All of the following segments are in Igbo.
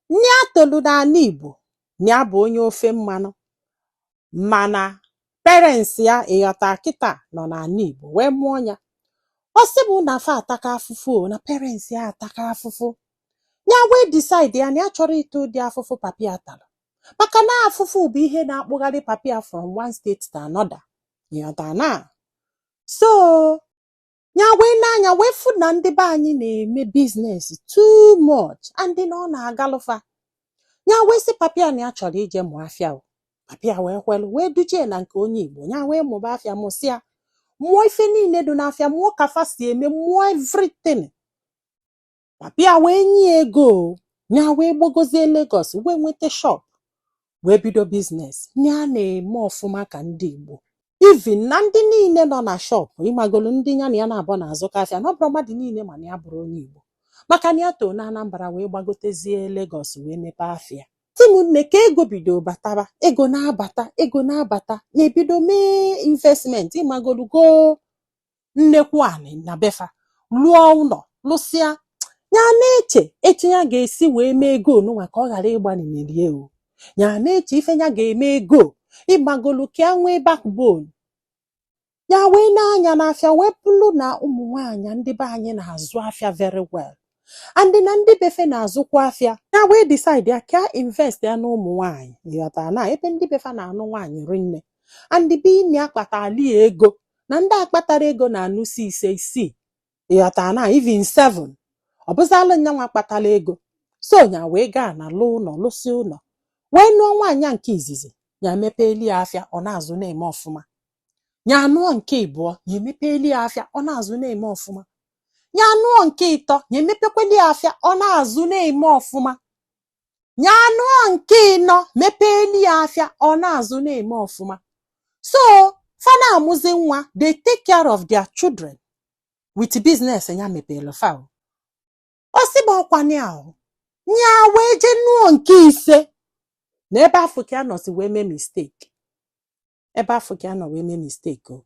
Na ya tolu n'ana Igbo, na ya bụ onye ofe mmanụ mana parents ya ịghọta kịta nọ n'ana Igbo wee mụọ ya. Ọ sị bụ na fa ataka afụfụ o, na parents ya ataka afụfụ. Ya wee decide ya na ya achọrọ ịta ụdị afụfụ papa ya talụ. Maka na afụfụ bụ ihe na-akpụgharị papa ya from one state to another. Ịghọta na? So ya wee nee anya wee fụ na ndị be anyị na-eme business too much and na ọ na-agalụ fa ya wee sị papa ya na ya chọrọ ije mụọ afịa o papa ya wee kwelụ wee duje ya na nke onye igbo ya wee mụba afịa mụsịa mụọ ife niile dị n'afịa mụọ ka fa si eme mụọ everything papa ya wee nye ya ego o. ya wee gbagozie Lagos wee nweta shop wee bido business ya na-eme ọfụma ka ndị Igbo even na ndị niile nọ na shop ịmagolu ndị ya na ya na-abụ na-azụkọ afịa na ọ bụrọ mmadụ niile ma na ya abụrọ onye Igbo maka na ya too na Anambra wee gbagotezie Lagos wee mepee afịa ụmụnne ka ego bido bataba ego na-abata ego na-abata nya ebido mee investment ịmagolu goo nnekwu anị na be fa lụọ ụlọ lụsịa ya na-eche etu ya ga-esi wee mee ego nụnwa ka ọ ghara ịgbanalị ya o ya na-eche ife ya ga-eme ego ịmagolu ka ya nwee backbone ya wee nee anya n'afịa wee bụrụ na ụmụ nwaanyị ndị be anyị na-azụ afịa very well and na ndị be fa na-azụkwa afịa ya wee decide ya ka invest ya na ụmụ nwaanyị ịghọta na ebe ndị be fa na-anụ nwaanyị rinne and ebe nya akpatala ego na ndị akpatarọ ego na-anụsi ise isii ịghọta na even seven ọ bụzalụ nyanwa kpatalụ ego so nya wee gaa na lụọ ụnọ lụsịa ụnọ wee nụọ nwaanyị nke izizi ya mepeeli ya afịa ọ na-azụ na-eme ọfụma nya anụọ nke ịbụọ nya emepeeli ya afịa ọ na-azụ na-eme ọfụma nya anụọ nke ịtọ nya emepekweli ya afịa ọ na-azụ na-eme ọfụma nya anụọ nke ịnọ mepeeli ya afịa ọ na-azụ na-eme ọfụma so fa na-amụzi nwa they take care of their children with business ya mepelụ fa o. ọ sị bụ ọkwa ya ahụ ya wee jee nụọ nke ise na ebe afụ ka ya nọsi wee mee mistake ebe afụ ka ya nọ wee mee mistake o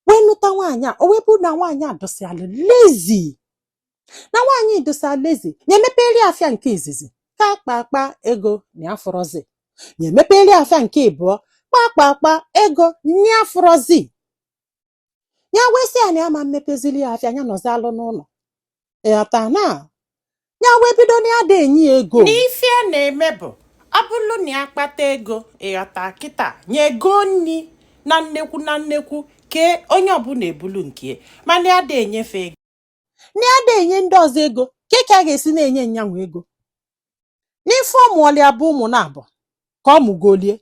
wee nụta nwaanyị a o wee bụrụ na nwaanyị a dịsịalụ lazy na nwaanyị dịsịa lazy ya emepeeli ya afịa nke izizi kpa kpa kpa ego nya afụrọzi ya emepeeli ya afịa nke ịbụọ kpa kpa kpa ego nya afụrọzi ya wee sị ya na ya ama emepezili ya afịa ya nọzịalụ n'ụnọ ịghọta na ya wee bido na ya ada enye ya ego na ife ya na-eme bụ ọ bụrụ na ya kpata ego ịghọta kịta nye ego nni na nnekwu na nnekwu ka onye ọbụna ebulu nke ya mana ya ada enye fa ego na ya na-enye ndị ọzọ ego ka ka a ga-esi na-enye nyanwụ ego n'ife ọ mụọlị ya bụ ụmụ naabọ ka ọ mụgolie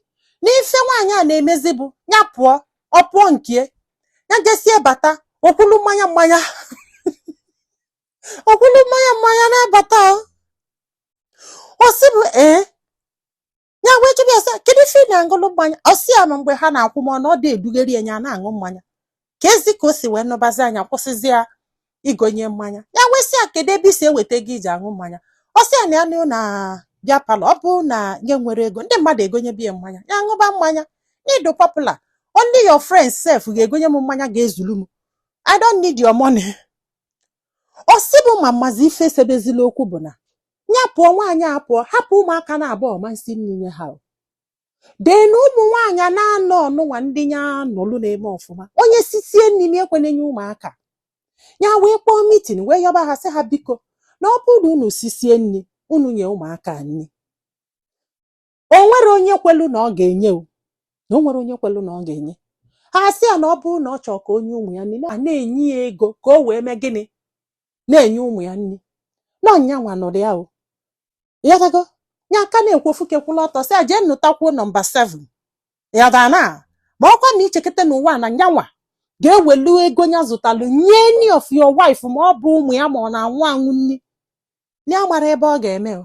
n'ife nwaanyị a na-emezi bụ ya pụọ ọ pụọ nke ya jesie bata okwulu mmanya mmanya okwulu mmanya mmanya na-abata o. ọ sị bụ ee ya wee jụrụ ya sị kedu ife ị na-aṅụlụ mmanya ọ sị ya ma mgbe ha na-akwụ m ọnụ ọ dị edugharị ya na-aṅụ mmanya keezi ka o si wee nụbazi ya nya kwụsịzi ya igonye mmanya ya wee sị ya kedu ebe i si eweta ego i ji aṅụ mmanya ọ sị ya na ya nọ na beer parlour ọ bụrụ na nya enwero ego ndị mmadụ egonyebe ya mmanya ya ṅụba mmanya na ị dụ popular only your friends sef ga-egonye m mmanya ga-ezulu m I don't need your money ọ sị bụ ma mmazi ife sebezila okwu bụ na ya pụọ nwaanyị a pụọ hapụ ụmụaka naabọ ọ ma nsi nni nye ha then na ụmụ nwaanyị naanọ ọnụnwa ndị ya nụlụ na-eme ọfụma onye sisie nni ekwene enye ụmụaka ya wee kpọọ meeting wee yọba ha sị ha biko na ọ bụrụ na unu sisie nni unu nye ụmụaka nni o nwero onye kwelu na ọ ga-enye o na o nwero onye kwelu na ọ ga-enye ha sị ya na ọ bụrụ na ọ chọọ ka o nye ụmụ ya nni na- a na-enye ya ego ka o wee mee gịnị na-enye ụmụ ya nni na ọ nyanwa nụrụ ya o ya gago ya aka na-ekwofu kekwula ọtọ sị ya jee nụtakwuo number 7 ya da na ma ọkwa na ichekete n'ụwa na nyanwa ga-ewelu ego ya zụtalụ nye any of your wife ma ọ bụ ụmụ ya ma ọ na-anwụ anwụ nni ya mara ebe ọ ga-eme o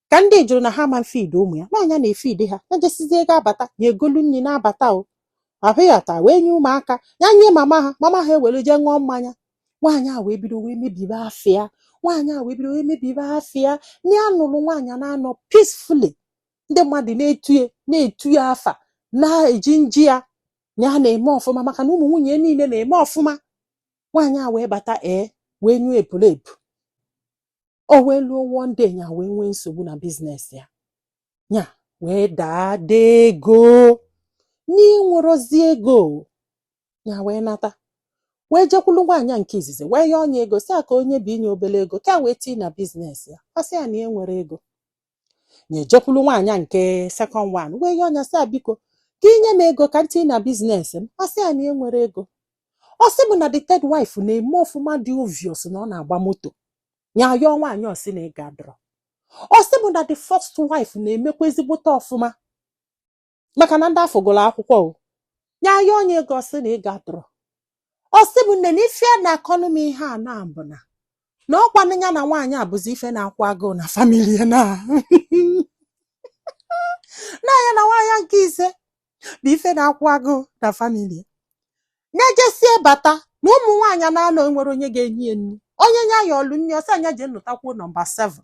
ka ndị jụrụ na ha ma feed ụmụ ya na nya na-efeed ha ya jesizie ga-abata nya egolu nri na-abata o ahụ ya taa wee nye ụmụaka ya nye mama ha mama ha ewere jee ṅụọ mmanya nwaanyị a wee bido wee mebibe afịa nwaanyị a wee bido wee mebibe afịa na ya nụrụ nwaanyị naanọ peacefully ndị mmadụ na-etu ya na-etu ya afa na-eji nji ya na ya na-eme ọfụma maka na ụmụ nwunye ya niile na-eme ọfụma nwaanyị a wee bata ee wee nyụọ epulepu o wee luo one day nya wee nwee nsogbu na business ya nya wee daa ada ego nya enwerozi ego nya wee nata wee jekwulu nwaanyị a nke izizi wee yọọ nya ego sị ya ka o nye binye obere ego ka ya wee tii na business ya ọ sị ya na ya enwero ego nya ejekwulu nwaanyị a nke second one wee yọọ nya sị ya biko ka i nye m ego ka m tii na business m ọ sị ya na ya enwero ego ọ sị bụ na the third wife na-eme ọfụma dị obvious na ọ na-agba moto ya yọọ nwaanyị ọ sị na ego adụrọ ọ sị bụ na the first wife na-emekwa ezigbote ọfụma maka na ndị afụ gụrụ akwụkwọ nya yọọ onye ego ọ sị na ego adịrọ ọ sị bụ nne na ife a na-akọnụ m ihe a na-abụ na na ọkwa na nya na nwaanyị a bụzi ife na-akwụ agụụ na famili ya na na ya na nwaanyị a nke ise bụ ife na-akwụ agụụ na famili nya jesie bata na ụmụ nwaanyị na-anọ enwerọ onye ga-enye ya nri onye nya yọọlụ nri ọ sị nya jee nụtakwuo nọmba 7